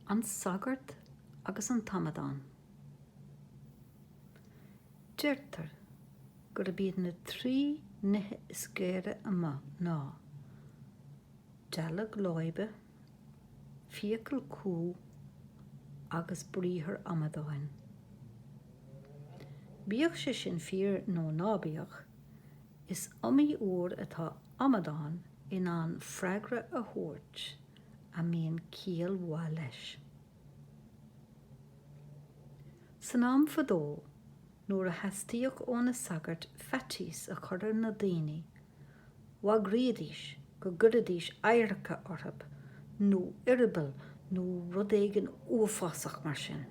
An Sagart agus an tAmadán. Deirtear gurb iad na trí nithe is géire amuigh ná, dealg láibe, fiacail cú agus briathar amadáin. Bíodh sé sin fíor nó ná bíodh, is iomaí uair atá amadán in ann freagra a thabhairt a mbíonn ciall mhaith leis. San am fadó nuair a theastaíodh ó na sagairt faitíos a chur ar na daoine, bhagraídís go gcuiridís adharca orthu, nó eireaball nó rud éigin uafásach mar sin.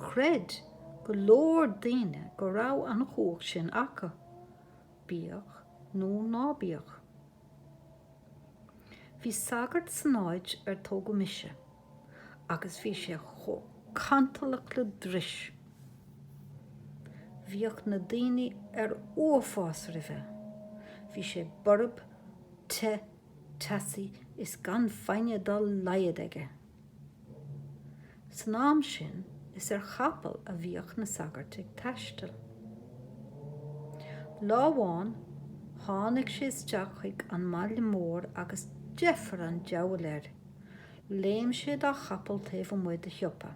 Chreid go leor daoine go raibh an chumhacht sin acu. bíodh nó ná bíodh. Bhí sagart san áit ar tógadh mise agus bhí sé chomh cantalach le dris. Bhíodh na daoine ar uafás roimhe. Bhí sé borb, te, teasaí is gan foighne dá laghad aige. San am sin is ar chapall a bhíodh na sagairt ag taisteal. Lá amháin tháinig sé isteach chuig an mbaile mór agus deifir an deabhail air. Léim sé dá chapall taobh amuigh de shiopa.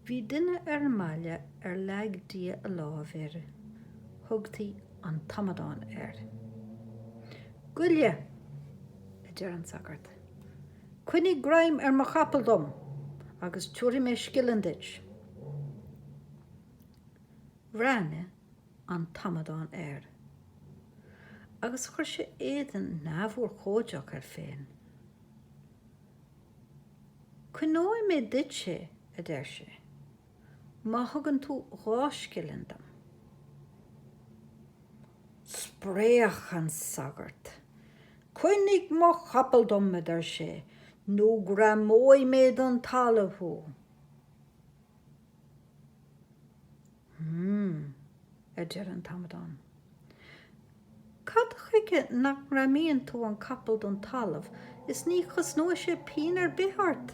Bhí duine ar an mbaile ar leag Dia lámh air, thugtaí an t-amadán air. Goile! a deir an sagart. Coinnigh greim ar mo chapall dom agus tiúrfaidh mé scilling duit. Bhreathnaigh an t-amadán air agus chuir sé éadan neamhurchóideach air féin. Coinneoidh mé duit é, a deir sé, má thugann tú dhá scilling dom. Spréach an sagart. Coinnigh mo chapall dom, a deir sé, nó greamóidh mé don talamh thú. A deir an t-amadán. Cad chuige nach ngreamaíonn tú an capall don talamh is ní chosnóidh sé pínn ar bith ort?